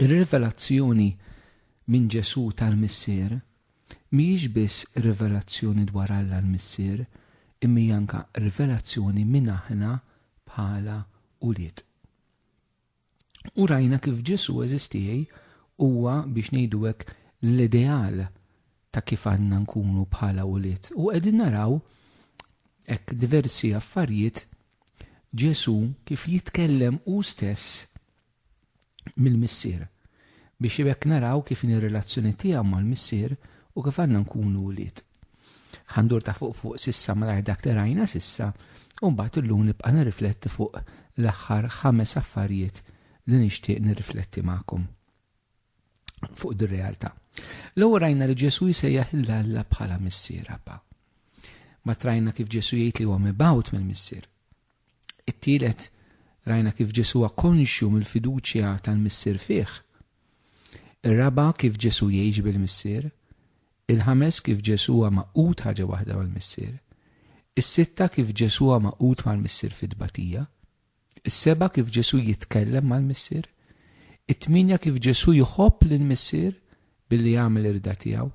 Ir-rivelazzjoni minn Ġesù tal-Missier mhijiex biss rivelazzjoni dwar Alla l-Missier, imma hija anke rivelazzjoni min aħna bħala ulied. U rajna kif Ġesù eżistiej huwa biex ngħidu hekk l-ideal ta' kif għandna nkunu bħala ulied. U qegħdin naraw hekk diversi affarijiet Ġesù kif jitkellem hu stess mill-Missier, biex b'hekk naraw kif inhi r-relazzjoni tiegħu mal-Missier u kif għandna nkunu wlied. Ħa ndur ta' fuq fuq s'issa malajr dak li rajna s'issa u mbagħad illum nibqa' nirrifletti fuq l-aħħar ħames affarijiet li nixtieq nirrifletti magħkom. fuq dir realtà. L-ewwel rajna li Ġesù jsejjaħ lil Alla bħala Missier Abba. Ma trajna kif Ġesù jgħid li huwa mibgħut mill-Missier. It-tielet rajna kif Ġesù huwa konxju mill-fiduċja tal-Missier fih. Ir-raba kif Ġesù jgħix bil-Missier. Il-ħames kif Ġesù huwa maqut ħaġa waħda mal-Missier. Is-sitta kif Ġesù huwa maqut mal-Missier fit-tbatija. Is-seba' kif Ġesù jitkellem mal-Missier. It-tmienja kif Ġesù jħobb lill-Missier billi jagħmel ir-rida tiegħu.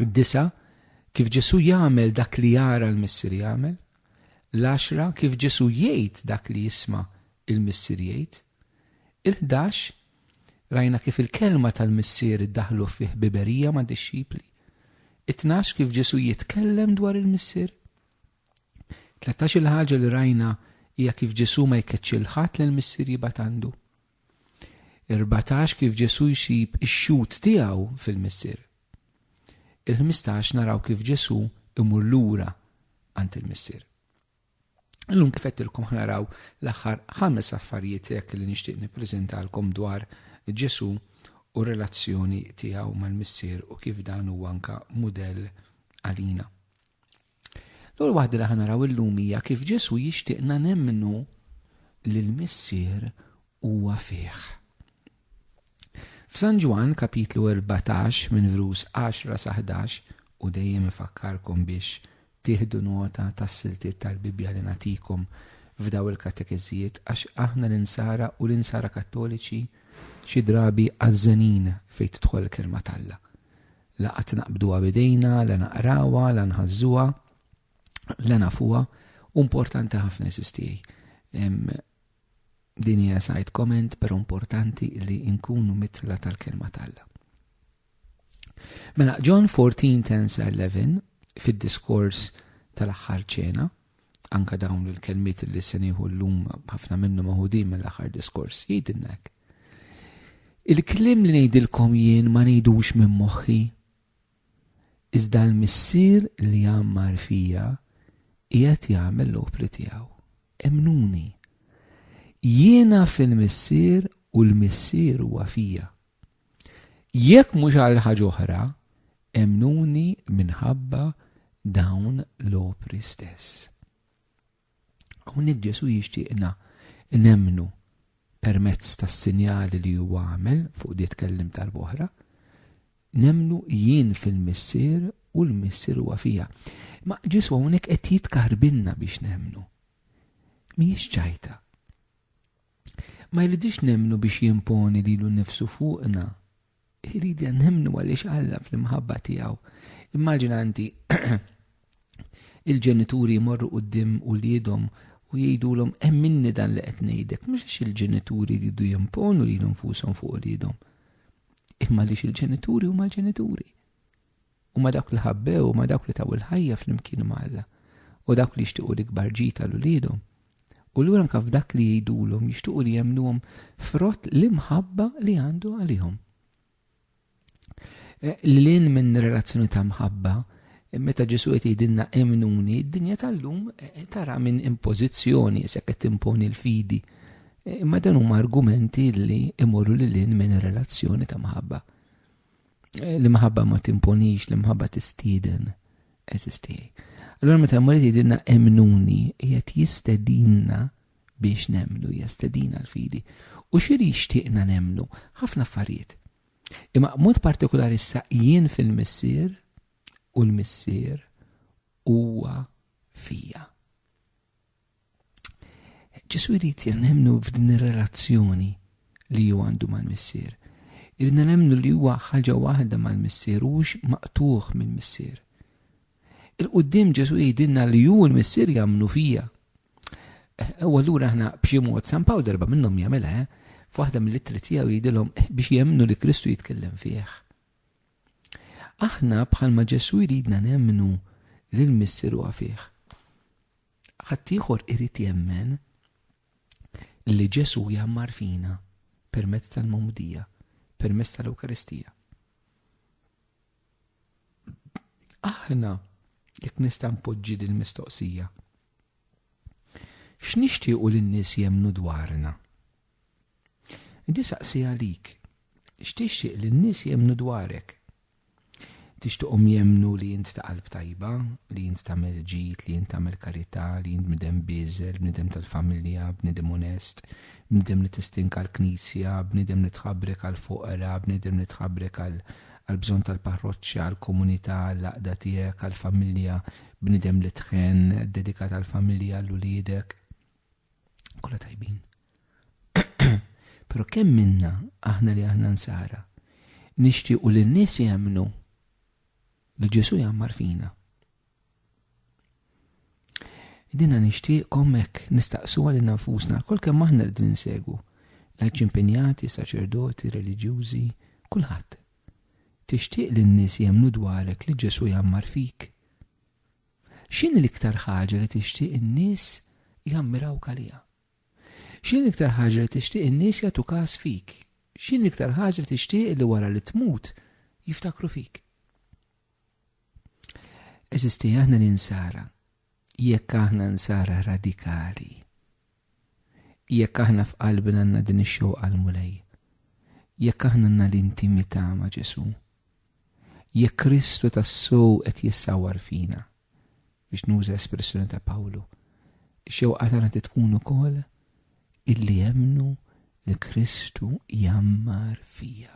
Id-disa' kif Ġesù jagħmel dak li jara l-Missier jagħmel. L-għaxra kif Ġesù jgħid dak li jisma' l-Missier jgħid. Il-ħdax rajna kif il-kelma tal-Missier iddaħħlu fi ħbiberija mad-dixxipli. It-tnax kif Ġesù jitkellem dwar il-Missier. Tlettax Il-ħaġa li rajna hija kif Ġesù ma jkeċċi 'l ħadd li l-Missier jibgħat għandu. Erbatax Kif Ġesù jsib ix-xhud tiegħu fil-Missier. Il-ħmistax Naraw kif Ġesù imur lura għand il-Missier. Illum kif għedtilkom ħnaraw l-aħħar ħames affarijiet hekk li nixtieq nippreżentalkom dwar Ġesù u relazzjoni tiegħu mal-Missier u kif dan huwa anka mudell għalina. L-ewwel waħda li ħanaraw illum hija kif Ġesù jixtieqna nemmnu li l-Missier huwa fih. F'San Ġwan kapitlu 14 minn vrus 10 sa 11 u dejjem ifakkarkom biex tieħdu nota tas-siltiet tal-Bibbja li natikom f'daw il-katekeżijiet għax aħna l-insara u l-insara kattoliċi xi drabi għażżenin fejn tidħol il-kelma t'Alla. La qatt naqbduha b'idejna, la naqrawha, la nħażżuha, la nafuha, u importanti ħafna sis tiegħi. Din hija side comment, però importanti li nkunu mitla tal-kelma talla. Mela, John 14, 10 11, fid-diskors tal-aħħar ċena, Anka dawn il-kelmiet li se nieħu llum ħafna minnu maħudin mill-aħħar diskors jgħidilna hekk. Il-kliem li ngħidilkom jien ma ngħidux minn moħħi. Iżda l-missier li jammar fija qiegħed jagħmel l-opri tiegħu. Emnuni. Jiena fil-missier u l-missier huwa fija. Jekk mhux għal ħaġa oħra, emmnuni minħabba dawn l-opri stess. Hawnhekk Ġesu jixtieqna nemmnu permezz tas-sinjali li huwa għamel fuq di tkellim tal-boħra, nemnu jien fil-missier u l-missier huwa fija. Ma ġiswa hawnhekk qed jitkarbilna biex nemnu. Mhijiex ċajta. Ma jridx nemmnu biex jimponi lilu nnifsu fuqna. Iridna nemmnu għaliex Alla fl-imħabba tiegħu. Immaġina inti il-ġenituri jmorru quddiem uliedhom u jgħidulhom emminni dan li qed ngħidlek, mhux għax il-ġenituri jridu jimponu lilu nfushom fuq uliedhom, imma għaliex il-ġenituri huma l-ġenituri. Huma dawk li ħabbew, huma dawk li taw il-ħajja flimkien ma' Alla, u dawk li jixtiequ l-ikbar ġid għal uliedhom. U lura anke f'dak li jgħidulhom jixtiequ li jemmnuhom frott l-imħabba li għandu għalihom. Eh, Lilin minn relazzjoni ta' mħabba, eh, meta Ġesu qed jgħidilna emnuni, d-dinja tal-lum eh, tara minn impożizzjoni se qed timponi l-fidi. Imma dan huma argumenti li imorru lilin minn relazzjoni ta' mħabba. Eh, l-imħabba ma timponix, l-imħabba tistiden, eżisti. Allora meta l-Mulej jidinna emnuni, jgħet jistedinna biex nemnu, jistedina l-fidi. U xiri xtiqna nemnu, ħafna affarijiet. Imma mod partikolari sa jien fil-missir u l-missir huwa fija. Ġesu jrid li nemnu f'din ir-relazzjoni li ju għandu mal-Missier. Irridna nemnu li huwa ħaġa waħda mal-Missier u hux maqtuħ mill-Missier. Il-qoddim Ġesu jgħidilna li hu l-Missier jagħmlu fija. Eh, u allura aħna b'xi mod San Pawl darba minnhom jagħmilha, eh, f'waħda mill-ittri tiegħu jgħidilhom eh, biex jemmnu li Kristu jitkellem fih. Aħna bħalma Ġesu jridna nemmnu li l-Missier huwa fih. Ħaddieħor irid jemmen li Ġesù jgħammar fina permezz tal-Magħmudija, permezz tal-Ewkaristija. Aħna jekk nista' npoġġi din mistoqsija. X'nixtiequ lin-nies jemmnu dwarna? Di saqsi għalik, x'tixtieq lin-nies jemmnu dwarek? Tixtiqhom jemmnu li int ta' qalb tajba, li int tagħmel ġid, li int tagħmel karità, li int bniedem bieżel, bniedem tal-familja, bniedem onest, bniedem li tistink għall-Knisja, bniedem li tħabrek għall-foqra, bniedem li tħabrek għall-bżonn tal-parroċċa, għall-komunità, għall-għaqda tiegħek, għall-familja, bniedem li tħenn, dedikat għall-familja, għall-uliedek. Kolla tajbin. Pero kemm minna aħna li aħna nsara nixtiequ li n-nies jemnu li Ġesu jammar fina. Dina nixtieqkom hekk nistaqsu għal nafusna kol kemm aħna rridu nsegwu. Lajċ impenjati, saċerdoti, reliġjużi, kulħadd. Tixtieq li n-nies jemnu dwarek li Ġesu jammar fik. X'inhi l-iktar ħaġa li tixtieq in-nies jammirawk għaliha? X'inhi l-iktar ħaġa li tixtieq in-nies jagħtu kas fik? X'inhi l-iktar ħaġa li tixtieq li wara li tmut jiftakru fik? Eżisti aħna ninsara, jekk aħna nsara radikali, Jekk aħna f'qalbna għandna din ix-xewqa għall-Mulej, jekk aħna għandna l-intimità ma' Ġesù, jekk Kristu tassew qed jissawwar fina, biex nuża espressjoni ta' Pawlu, ix-xewqa tagħna trid tkun ukoll illi emmnu li Kristu jgħammar fija.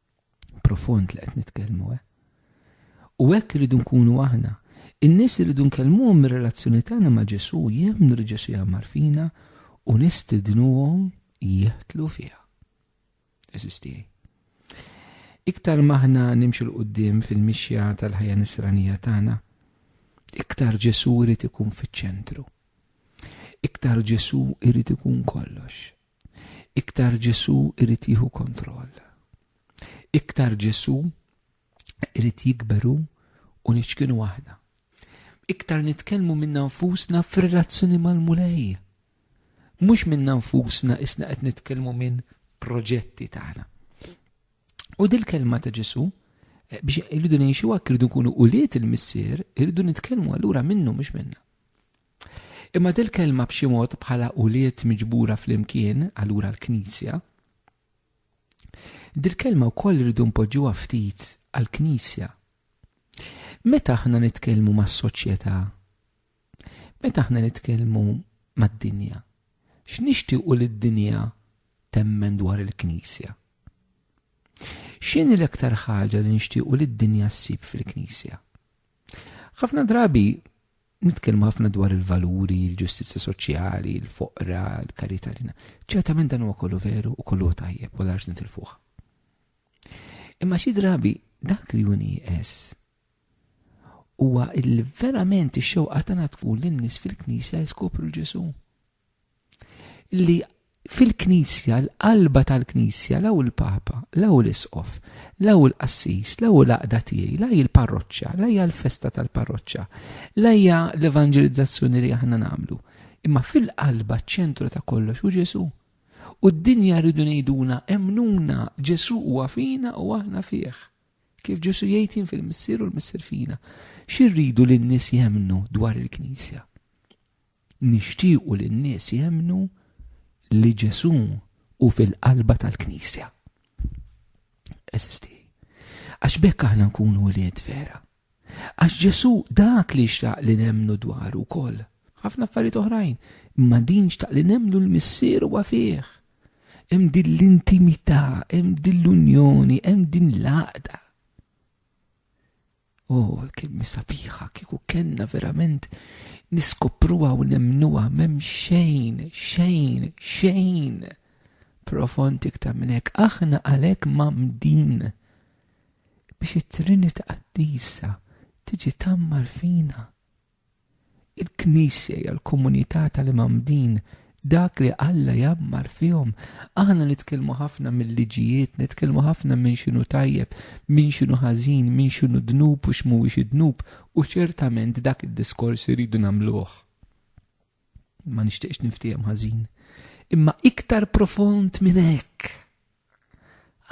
Profond li qed nitkellmu, eh? U hekk irridu nkunu aħna. In-nies irridu nkellmuhom mir-relazzjoni tagħna ma' Ġesu, jemmnu li Ġesu jagħmar fina u nistidnuhom jeħtlu fiha. Eżistijaj. Iktar maħna nimxu l-qoddim fil-mixja tal-ħajja nisranija tagħna, iktar Ġesu irid ikun fiċ-ċentru. Iktar Ġesu irid ikun kollox. iktar Ġesù jrid jieħu kontroll. Iktar Ġesù jrid jikber hu u niċkinu aħna. Iktar nitkellmu minna nfusna f'relazzjoni mal-Mulej. Mhux minna nfusna isna qed nitkellmu minn proġetti tagħna. U dil-kelma ta' Ġesù eh, biex irridu ngħixu hekk irridu nkunu ulied il-missier, irridu nitkellmu allura minnu mhux minna. Imma dil-kelma b'xi mod bħala ulied miġbura flimkien, allura l-Knisja, dil-kelma wkoll rridu npoġġuha ftit għall-Knisja. Meta aħna nitkellmu mas-soċjetà, meta aħna nitkellmu mad-dinja, x'nixtiequ li d-dinja temmen dwar il-Knisja? X'inhi l-aktar ħaġa li nixtiequ li d-dinja ssib fil-Knisja? Ħafna drabi nitkellmu ħafna dwar il-valuri, il-ġustizzja soċjali, il-foqra, il-karità lina. Ċertament dan huwa kollu veru u kollu tajjeb u l-arġ nitilfuħ. Imma xi drabi dak li juni es huwa il-verament ix-xewqa tagħna tkun lin-nies fil-knisja jiskopru l-Ġesu. li fil-Knisja, l-qalba tal-Knisja, law il-Papa, law l-Isqof, law il-Qassis, law il-għaqda tiegħi, la hi l-parroċċa, la hija l-festa tal-parroċċa, la hija l-evanġelizzazzjoni li aħna nagħmlu, imma fil-qalba ċ-ċentru ta' kollox hu Ġesù. U d-dinja rridu ngħiduna emnuna Ġesù huwa fina u aħna fih. Kif Ġesù jgħid fil-Missier u l-Missier fina. Xi rridu lin-nies jemnu dwar il-Knisja? Nixtiequ li n-nies jemmnu li Ġesù hu fil-qalba tal-Knisja. Għeżież tiegħi, għax b'hekk aħna nkunu wlied vera. Għax Ġesù dak li xtaq li nemmnu dwaru wkoll. Ħafna affarijiet oħrajn, imma din xtaq li nemmnu l-Missier huwa fih. Hemm din l-intimità, hemm din l-unjoni, hemm din l-għaqda. Oh, kelmi sabiħa, kieku kellna verament niskopruha u nemnuha m'hemm xejn, xejn, xejn. Profond iktar minn hekk, aħna għalhekk mamdin biex it-Trinità Qaddisa tiġi tammar fina. Il-Knisja hija l-komunità tal-imgħammdin, dak li Alla jgħammar fihom. Aħna nitkellmu ħafna mill-liġijiet, nitkellmu ħafna minn x'inhu tajjeb, minn x'inhu ħażin, minn x'inhu dnub u x'mhuwiex id-dnub, u ċertament dak id-diskors irridu nagħmluh. Ma nixtieqx niftiehem ħażin. Imma iktar profond minn hekk.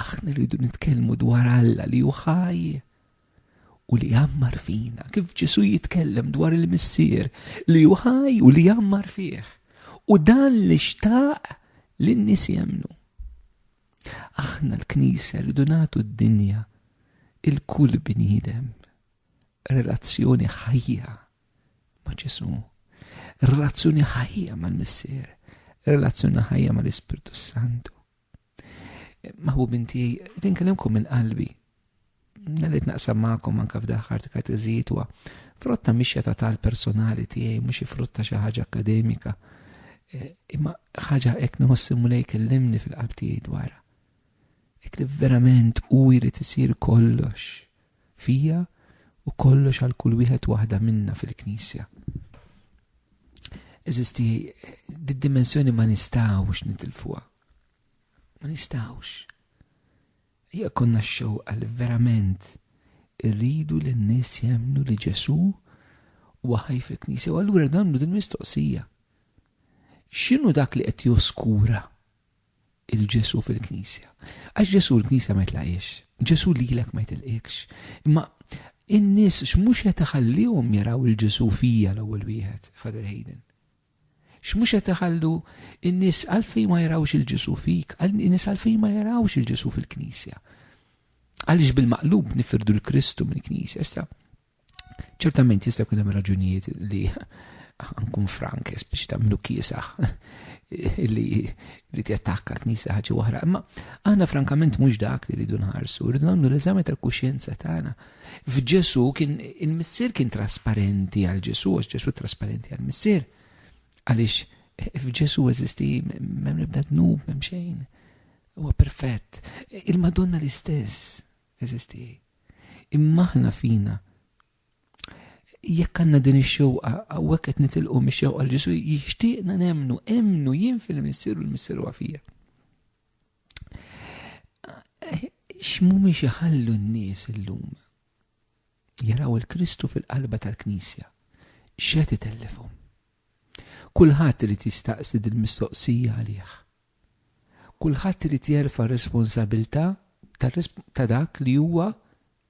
Aħna rridu nitkellmu dwar Alla li hu ħaj u li jammar fina, kif Ġesu jitkellem dwar il-missier li hu ħaj u li jammar fih. U dan li xtaq li n-nies jemnu. Aħna l-Knisja rridu nagħtu d-dinja il-kull bniedem relazzjoni ħajja ma' Ġesù. Relazzjoni ħajja mal-Missier, relazzjoni ħajja mal-Ispirtu Santu. Maħbub inti, tinkellimkom minn qalbi. Nalit naqsam ma'kom anka f'daħħar kateżijiet wa frotta mixja ta' tal personali tiegħi mhux frotta xi ħaġa akademika. Eh, imma ħaġa hekk nħossim mulej kellimni fil-qalb tiegħi dwarha. Hekk li verament hu jrid isir kollox fija u kollox għal kull wieħed waħda minna fil-Knisja. Eżisti, did-dimensjoni ma nistgħux nitilfuha. Ma nistgħux. Hija konna x-xewqa li verament irridu li n-nies jemnu li Ġesu huwa ħaj fil-Knisja u allura nagħmlu din mistoqsija. X'inhu dak li qed joskura il-Ġesu fil-Knisja. Għax Ġesu l-Knisja ma jitlaqiex, Ġesu lilek ma jitilqikx. Imma in-nies x'mhux qed iħallihom jaraw il-Ġesu fija l-ewwel wieħed, Father Hayden. X'mhux qed iħallu in-nies għalfejn ma jarawx il-Ġesu fik, in-nies għalfejn ma jarawx il-Ġesu fil-Knisja. Għaliex bil-maqlub nifirdu l-Kristu mill-Knisja, sta. Ċertament jista' jkun hemm raġunijiet li nkun frank, speċi ta' mnu kiesaħ li li t-attakka t-nisa ħagġi wahra. Imma aħna frankament mux dak li rridu nħarsu, rridu namlu l-eżami tal-kuxjenza tagħna. F'Ġesu kien il-missier kien trasparenti għal Ġesu, għax Ġesu trasparenti għal missier. Għaliex eh, f'Ġesu eżisti m'hemm nibda dnub, m'hemm xejn. Huwa perfett. Il-Madonna l-istess. eżisti hi. Imma aħna fina jekk għandna din ix-xewqa hawnhekk qed nitilqu mix-xewqa l Ġesu jixtieqna nemnu, emnu jien fil-Missieru l-Missieru għafija. X'mhumiex iħallu n-nies illum jaraw il-Kristu fil-qalba tal-Knisja. X'qed itellifhom? Kulħadd irid jistaqsi dil-mistoqsija għalih. Kulħadd irid jerfa' r-responsabilità ta' dak li huwa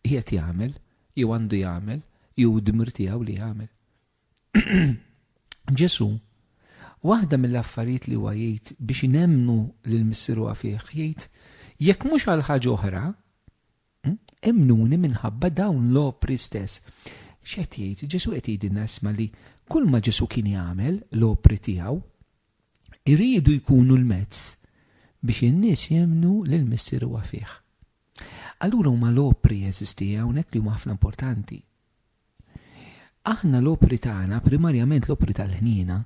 qiegħed jagħmel, jew għandu jagħmel, jew id-dmir tiegħu li jagħmel. Ġesù, waħda mill-affarijiet li huwa jgħid biex nemmnu lil Missieru fih, jgħid, Jekk mhux għal ħaġa oħra, Emmnuni minħabba dawn l-opri stess. X'qed jgħid? Ġesù qed jgħidilna isma' li kull ma Ġesù kien jagħmel, l-opri tiegħu, iridu jkunu l-mezz biex in-nies jemmnu li l-Missier huwa fih. Allura huma l-opri jeżisti hawnhekk li huma ħafna importanti. Aħna l-opri tagħna, primarjament l-opri tal-ħniena,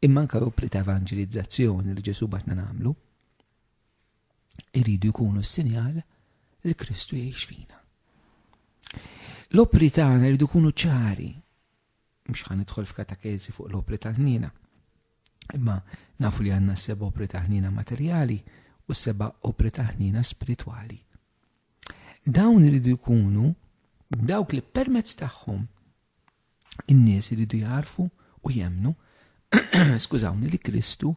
imma anke l-opri ta' evanġelizzazzjoni li Ġesù batna nagħmlu, iridu jkunu s-sinjal li Kristu jgħix fina. L-opri tagħna jridu jkunu ċari. Mhux ħan nidħol f'katakezi fuq l-opri tal-ħniena. Imma nafu li għandna seba' opri ta' ħniena materjali u seba' opri ta' ħniena spiritwali. Dawn iridu jkunu dawk li permezz tagħhom In-nies iridu jagħrfu u jemmnu, skużawni, li Kristu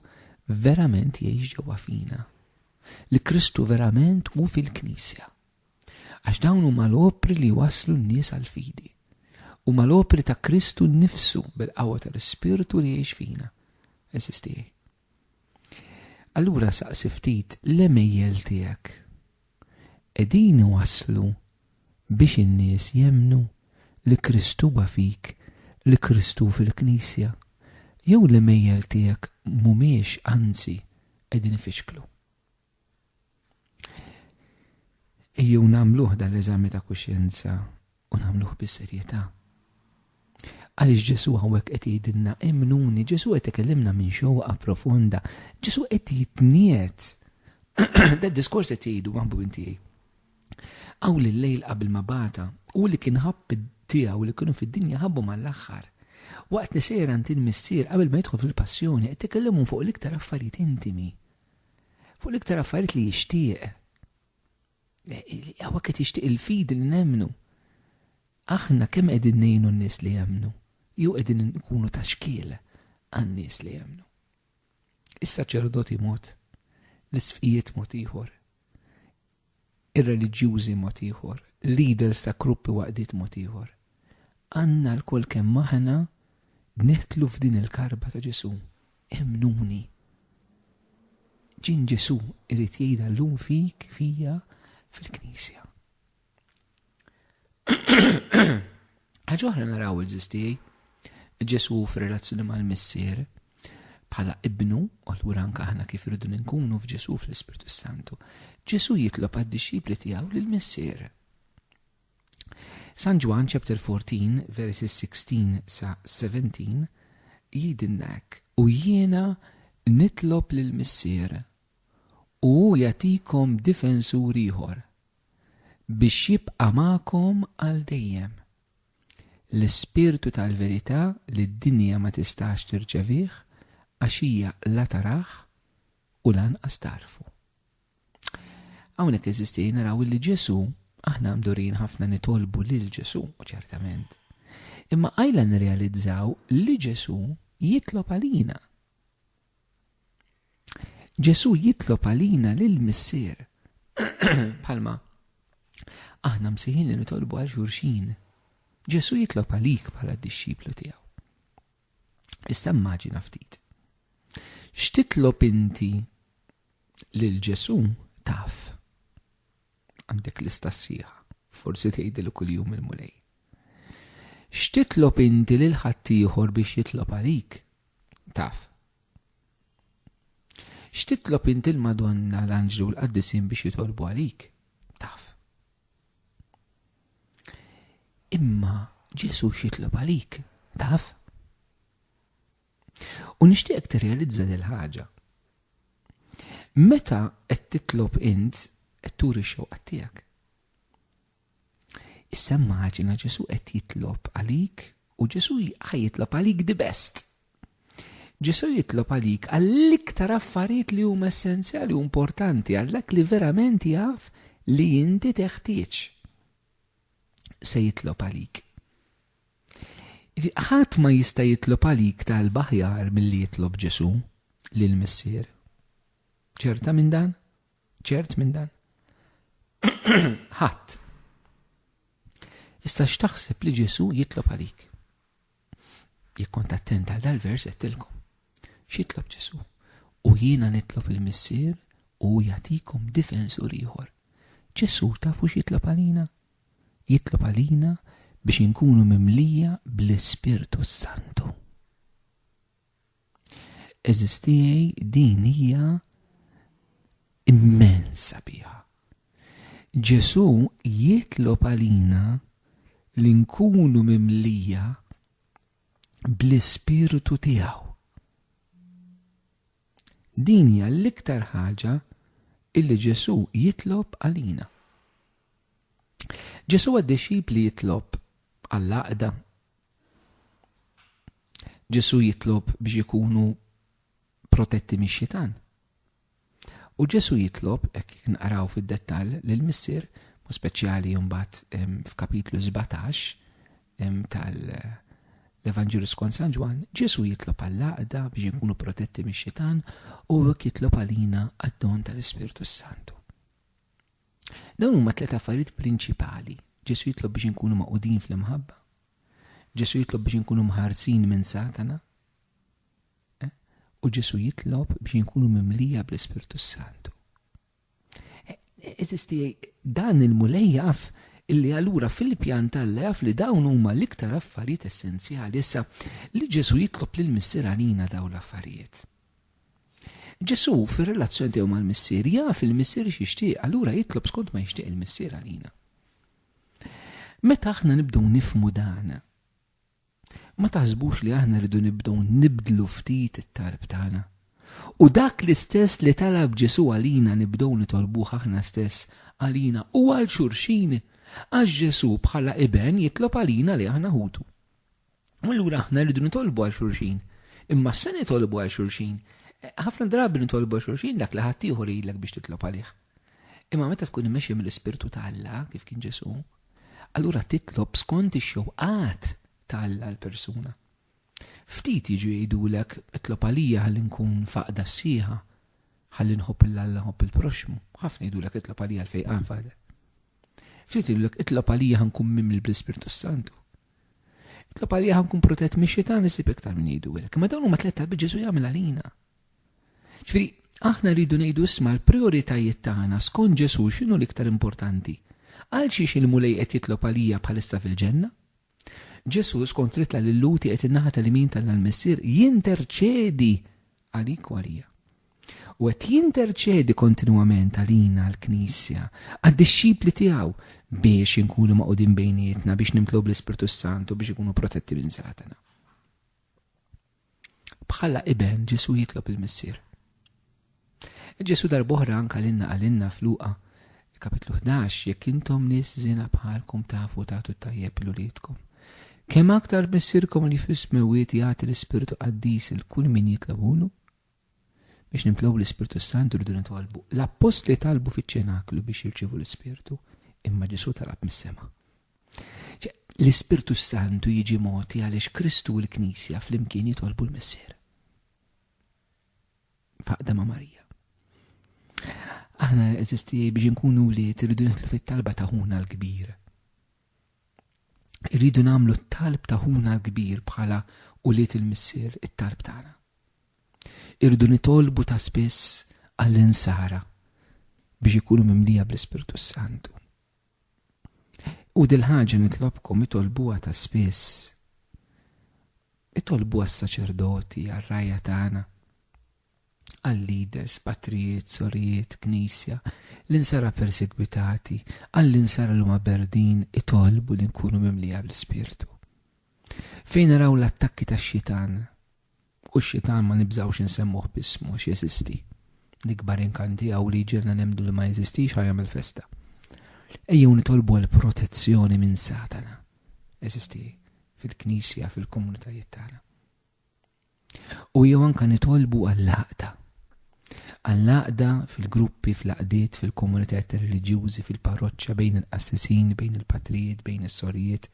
verament jgħix ġewwa fina. Li Kristu verament hu fil-Knisja. Għax dawn huma l-opri li waslu n-nies għall-fidi. Huma l-opri ta' Kristu nnifsu bil-qawwa tal-Ispirtu li jgħix fina. Eżistieħi. Allura saqsi ftit l-emejjel tiegħek. qegħdin iwasslu biex in-nies jemmnu li Kristu huwa fik, li Kristu hu fil-Knisja, jew l-għemejjel tiegħek mhumiex anzi qegħdin ifixklu? Ejjew nagħmluh dan l-eżami ta' kuxjenza u nagħmluh bis-serjetà. Għaliex Ġesu hawnhekk qed jgħidilna imnuni, Ġesu qed ikellimna minn xewqa profonda, Ġesu qed jitniet. Da diskors qed jgħidu maħbu tiegħi. Aw li lejl qabel ma bata, u li kien ħabb tiegħu li kienu fid-dinja ħabbu mal-aħħar. Waqt li sejra inti missier qabel ma jidħol fil-passjoni qed tikellimhom fuq l-iktar affarijiet intimi. Fuq l-iktar affarijiet li jixtieq. Għawek qed jixtieq il-fidi li nemmnu. Aħna kemm qegħdin ngħinu n-nies li jemmnu, jew qegħdin nkunu ta' xkiel għan-nies li jemmnu. Is-saċerdoti mod, l-isfijiet mod ieħor, ir-reliġjużi mod ieħor, leaders ta' gruppi waqdiet mod ieħor. Għandna l-kol kemm aħna neħtlu f'din il-karba ta' Ġesu. Emmnuni. Ġinn Ġesù irid jgħidha llum fik, fija, fil-Knisja. Ħaġa oħra naraw il-ġis tiegħi. Ġesù f'relazzjoni mal-Missier bħala ibnu, u allura anke aħna kif irridu nkunu f'Ġesù fl-Ispirtu Santu. Ġesù jitlob għad-dixxipli tiegħu lill-Missier. San Ġwann chapter 14 verses 16 sa 17 jgħidilna hekk, u jiena nitlob lil Missier u hu jagħtikom difensur ieħor biex jibqa' magħkom għal dejjem. L-ispirtu tal-verità li d-dinja ma tistax tirċevih għax hija la tarah u lanqas tarfu. Hawnhekk eżisti naraw li Ġesu aħna mdurin ħafna nitolbu lil Ġesu, u ċertament. Imma għajla nirrealizzaw li Ġesu jitlob għalina. Ġesu jitlob għalina lil missier. Palma, aħna msiħin li nitolbu għal xurxin. Ġesu jitlob għalik bħala d-dixxiplu tiegħu. Issa immaġina ftit. X'titlob inti lil Ġesù taf? Għandek lista sħiħa, forsi tgħidil kuljum il-Mulej. X'titlob inti lil ħaddieħor biex jitlob għalik? Taf. X'titlob inti l-Madonna l-Anġlu l-Qaddisin biex jitolbu għalik? Taf. Imma Ġesu xitlob għalik, taf? U nixtieqek tirrealizza dil ħaġa. Meta qed titlob int qed turi x-xewqa tiegħek. Issa immaġina Ġesu qed jitlob għalik u Ġesu ħajjitlob għalik di best. Ġesù jitlob għalik għall-iktar affarijiet li huma essenzjali u importanti, għal dak li verament jaf li inti teħtieġ. Se jitlob għalik. Ħadd ma jista' jitlob għalik talba aħjar milli jitlob Ġesù lil Missier. Ċerta minn dan? Ċert minn dan? Ħadd. Issa x'taħseb li Ġesù jitlob għalik? Jekk kont attent għal dal-vers għedtilkom. X'jitlob Ġesu? U jiena nitlob il-Missier u jagħtikom difensur ieħor. Ġesu tafu x'jitlob għalina? Jitlob għalina biex inkunu mimlija bl-Ispirtu Santu. Eżis tiegħi din hija immensa biha. Ġesu jitlob għalina li nkunu mimlija bl-ispirtu tiegħu. Din hija l-iktar ħaġa illi Ġesu jitlob għalina. Ġesu għad-dixxipli jitlob għall-aqda Ġesu jitlob biex ikunu protetti mix-xitan. U Ġesu jitlob, hekk nqaraw fid-dettall, li l-Missier, mu speċjali jumbat f'kapitlu 17 tal-Evanġelu skont San Ġwan, Ġesu jitlob għall-għaqda biex ikunu protetti mix-xitan u hekk jitlob għalina għad-don tal-Ispirtu Santu. Dawn huma tliet affarijiet prinċipali. Ġesù jitlob biex inkunu magħqudin fl-imħabba. Ġesù jitlob biex inkunu mħarsin minn Satana. Eh? U Ġesù jitlob biex inkunu mimlija bl-Ispirtu Santu. Eh, eh, eżisti dan il-mulej jaf illi allura fil-pjan tal jaf li dawn huma l-iktar affarijiet essenzjali. Issa, li Ġesu jitlob lil missier għalina daw l-affarijiet. Ġesù fir-relazzjoni tiegħu mal-Missier jaf il-Missier x'jixtieq, allura jitlob skont ma jixtieq il-Missier għalina. Meta aħna nibdew nifmu dan, ma taħsbux li aħna rridu nibdew nibdlu ftit it-tarb tagħna. U dak l-istess li talab Ġesu għalina nibdew nitolbuh aħna stess għalina u għal xurxin għax Ġesu bħala iben jitlob għalina li aħna ħutu. U allura aħna rridu nitolbu għal xulxin. Imma se nitolbu għal xulxin. Eh, ħafna drabi nitolbu għal xulxin dak li ħadd ieħor ilek biex titlob għalih. Imma meta tkun imexxi mill-Ispirtu ta' Alla kif kien Ġesu, allura titlob skont ix-xewqat ta' Alla l-persuna. Ftit jiġu jgħidulek itlob għalija ħalli nkun faqda s-sieħa, ħalli nħobb il-Alla nħobb il-proxmu, ħafna jgħidulek itlob għalija l-fejqan faqda. Ftit jgħidulek itlob għalija ħankun mimli bl-Ispirtu Santu. Itlob għalija ħankun protett mix xitan isib iktar minn jgħidu hekk. Imma dawn huma tliet talbiet Ġesu jagħmel għalina. Ġifieri, aħna rridu ngħidu isma' l-prijoritajiet tagħna skont Ġesu x'inhu l-iktar importanti. Għal xiex il-Mulej qed jitlob għalija bħalissa fil-ġenna? Ġesu skont ritla lil Luti qed in-naħa tal-imin tal-Missier jinterċedi għalik u għalija. U qed jinterċedi kontinwament għalina l-Knisja, għad-dixxipli tiegħu biex inkunu maqudin bejnietna, biex nimtlob l-Ispirtu Santu biex ikunu protetti minn Satana. Bħala iben Ġesu jitlob il-Missier. Ġesu darboħra anka l-inna għalinna fluqa Kapitlu ħdax, Jekk intom nies żiena bħalkom tafu tagħtu t-tajjeb lil uliedkom, kemm aktar Missierkom li fis-Smewwiet jagħti l-Ispirtu Qaddis lil kull min jitlobulu? Biex nimtlew bl-Ispirtu s-Santu rridu nitolbu. L-Appostli talbu fiċ-Ċenaklu biex jirċievu l-Ispirtu, imma Ġesù talab mis-sema. L-Ispirtu s-Santu jiġi mogħti għaliex Kristu u l-Knisja flimkien jitolbu l-Missier. faqda ma' Marija. Aħna eżisti biex nkunu li irridu nħlu fit-talba ta' ħuna l-kbir. Irridu nagħmlu t-talb ta' ħuna l-kbir bħala u li il-missier it-talb tagħna. Irridu nitolbu ta' spiss għall-insara biex ikunu mimlija bl-Ispirtu Santu. U dil-ħaġa nitlobkom itolbuha ta' spiss. Itolbuha s-saċerdoti, għar-rajja tagħna, għal-leaders, patrijiet, sorijiet, knisja, l-insara persegwitati, għall-insara li huma berdin itolbu li nkunu mimlija bl-Ispirtu. Fejn naraw l-attakki tax-xitan, U x-xitan ma nibżgħux insemmuh b'ismu għax jeżisti. L-ikbar inkant tiegħu li jġiegħlna nemmnu li ma jeżistix ħa jagħmel festa. Ejjew nitolbu għal protezzjoni minn Satana. Jeżisti fil-Knisja, fil-komunitajiet tagħna. U jew anke nitolbu għall-għaqda. Għall-għaqda, fil-gruppi, fl-għaqdiet, fil-komunitajiet reliġjużi, fil-parroċċa, bejn il-qassisin, bejn il-patrijiet, bejn is-sorijiet,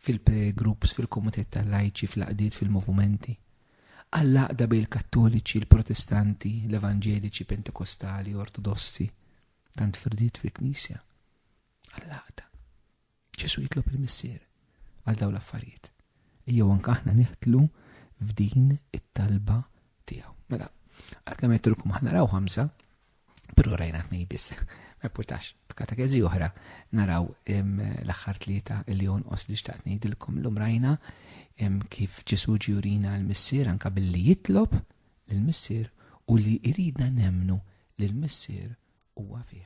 fil-prayer groups, fil-komunitajiet tal-lajċi, fl-għaqdiet, fil-movumenti. Għall-għaqda bejn il-Kattoliċi, il-Protestanti, l-Evanġeliċi, Pentekostali, Ortodossi, tant firdiet fil-Knisja. Għall-għaqda. Ġesu jitlob il-Missier għal dawn l-affarijiet. Ejjew anke aħna neħtlu f'din it-talba tiegħu. Mela, għalkemm għedtilkom aħna raw ħamsa, però rajna tnej biss. Ma jpurtax, f'katakezi oħra naraw l-aħħar tlieta li jonqos li xtaqt ngħidilkom l rajna kif Ġesu ġurina l-Missier anka billi jitlob l-Missier u li jridna nemnu l-Missier huwa fih.